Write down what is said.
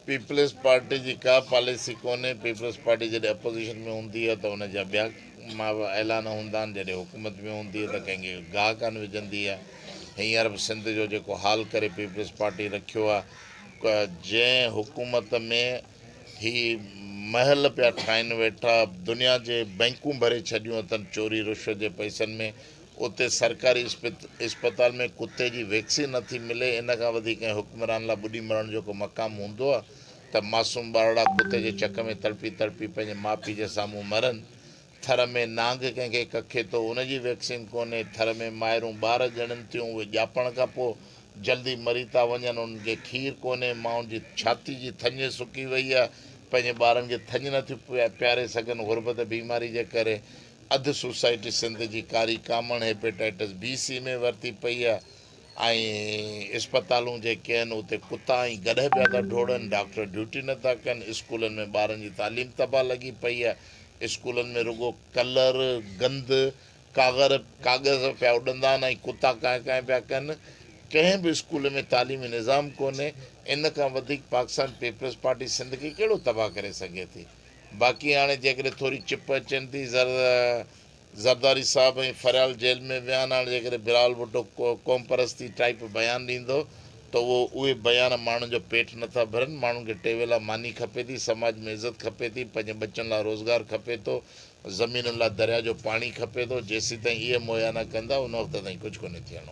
Peoples Party جي ڪا policy ڪونهي، پيپلز پارٽي جڏهن اپوزيشن ۾ هوندي هئي ته ان جا ٻيا اعلان هوندا آهن، جڏهن حڪومت ۾ هوندي هئي ته ڪنهن کي گاهه ڪانه وجهندي هئي، هينئر به سنڌ جو جيڪو حال ڪري پيپلز پارٽي رکيو آهي، جنهن حڪومت ۾ هي محل پيا ٺاهين ويٺا، دنيا جي بئنڪون ڀري ڇڏيون اٿن چوري رشوت جي پئسن ۾، اتي سرڪاري اسپتال ۾ ڪتي جي ويڪسين نه ٿي ملي ان کان وڌيڪ ڪنهن حڪمران لا ٻڏي مرڻ جو ڪو مقام هوندو آ ته معصوم ٻارڙا ڪتي جي چڪ ۾ تڙپي تڙپي پنهنجي ماء پيء جي سامهون مرن ٿر ۾ نانگ ڪنهن کي ڪکي ٿو ان جي ويڪسين ڪونهي ٿر ۾ مائرون ٻار ڄڻن ٿيون اهي ڄاپڻ کان پوء جلدي مري ٿا وڃن انهن کي کير ڪونهي مائن جي ڇاتي جي ٿڃ سڪي وئي آ پنهنجي ٻارن کي ٿڃ نه ٿيون پياري سگهن غربت بيماري جي ڪري اڌ سوسائٽي سنڌ جي ڪاري ڪامڻ هيپيٽائيٽس بي سي ۾ ورتي پئي آهي ۽ اسپتالون جيڪي آهن اتي ڪتا ۽ گڏهه پيا ٿا ڊوڙن، ڊاڪٽر ڊيوٽي نٿا ڪن، اسڪولن ۾ ٻارن جي تعليم تباهه لڳي پئي آهي، اسڪولن ۾ رڳو ڪلر، گند، ڪاغر، ڪاغذ پيا اڏندا آهن ۽ ڪتا ڪانء ڪانء پيا ڪن، ڪنهن به اسڪول ۾ تعليمي نظام ڪونهي، ان کان وڌيڪ پاڪستان پيپلز پارٽي سنڌ کي ڪهڙو تباهه ڪري سگهي ٿي؟ باقي هاڻي جيڪڏهن ٿوري چپ اچين ٿي زرداري صاحب ۽ فريال جيل ۾ ويا آهن هاڻي جيڪڏهن بلاول ڀٽو قوم پرستي ٽائيپ بيان ڏيندو ته اهو اهي بيان ماڻهن جو پيٽ نٿا ڀرن ماڻهن کي ٽيوي لاء ماني کپي ٿي سماج ۾ عزت کپي ٿي پنهنجي ٻچن لاء روزگار کپي ٿو زمينن لاء دريا جو پاڻي کپي ٿو جيسيتائين اهي مهيا نه ڪندا ان وقت تائين ڪجهه ڪونهي ٿيڻو.